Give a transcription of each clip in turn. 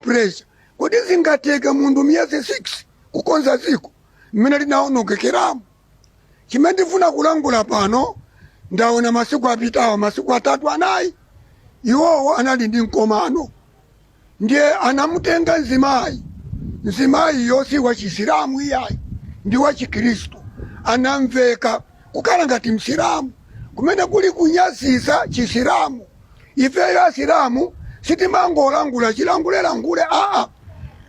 pressure. Kodi zingateke munthu miyezi 6 kukonza dziko mmene linawonongekeramu? Chimene ndifuna kulangula pano, ndaona masiku apitawa, masiku atatu anayi, iwowo anali ndi mkomano, ndiye anamutenga mzimayi mzimayiyo si wa chisilamu iyayi, ndi wa chikhristu, anamveka kukhala ngati msilamu kumene kuli kunyasisa chisilamu. Ifeyo asilamu sitimangolangula chilangule langule aa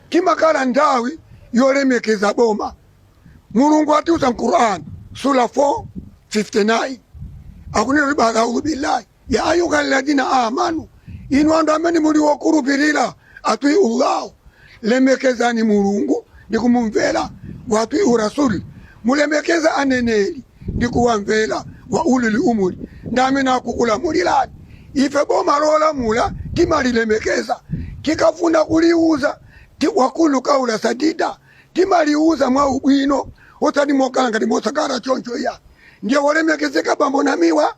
timakhala nthawi yolemekeza boma mulungu atiuza mu quran sura 459 akunena kuti baada audhu billahi ya ayuha alladhina amanu inu anthu amene muli wokhulupirira Atwi'u Allah, lemekezani Mulungu ndi kumumvera, wa atwi'u Rasul, mulemekeze aneneri ndi kuwamvera, wa ulil amri, ndi amene akukulamulirani. Ife boma lolamula timalilemekeza, tikafuna kuliuza ti, wa qulu qawla sadida, timaliuza mwa ubwino osati mokhala ngati mosakhala choncho iyayi. Ndiye wolemekezeka bambo Namiwa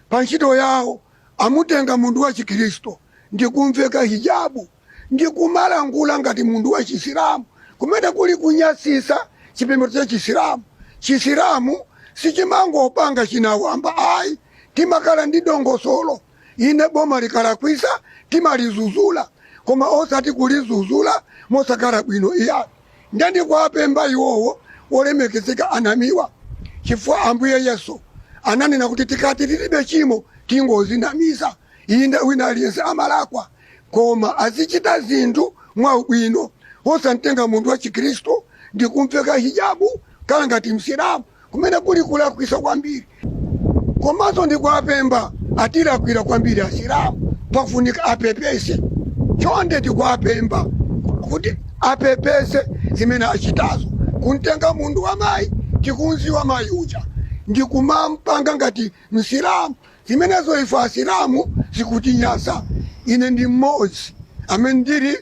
pa ntchito yawo. Amutenga munthu wa Chikristu ndi kum'veka hijabu ndi kumalankhula ngati munthu wa Chisilamu, kumene kuli kunyasitsa chipembedzo cha Chisilamu. Chisilamu sichimangopanga chinawamba ayi, timakhala ndi dongosolo. Inde, boma likalakwitsa, timalizudzula, koma osati kulizudzula mosakhala bwino iyayi. Nde ndikuwapempha iwowo olemekezeka anamiwa chifukwa ambuye yesu ananena kuti tikati tilibe chimo tingozinamiza inde wina aliyense amalakwa koma azichita zinthu mwaubwino osamtenga munthu wachikhristu ndikumveka hijabu kukhala ngati msilamu. kumene kuli kulakwisa kwambiri komanso ndikuwapempha atilakwila kwambiri asilamu pafunika apepese chonde ndikuwapempha kuti apepese zimene achitazo kumtenga munthu wamayi tikumdziwa mayi uja ndi kumampanga ngati msilamu zimenezo ife asilamu zikutinyasa ine ndi mmodzi amene ndili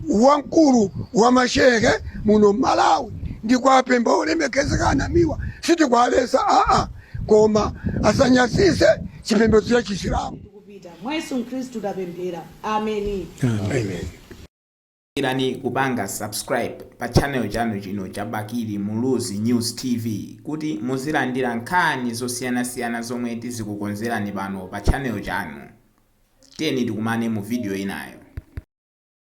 wamkulu wa mashehe muno mmalawi ndikuwapempha olemekezeka anamiwa sitikuwaletsa aa koma asanyasise chipembedzo cha chisilamu kupita mwa yesu khristu tapemphera ameni amen irani kupanga subscribe pa channel chanu chino cha bakili muluzi news tv kuti muzilandira nkhani zosiyanasiyana zomwe tizikukonzerani pano pa channel chanu tiyeni tikumane mu video inayo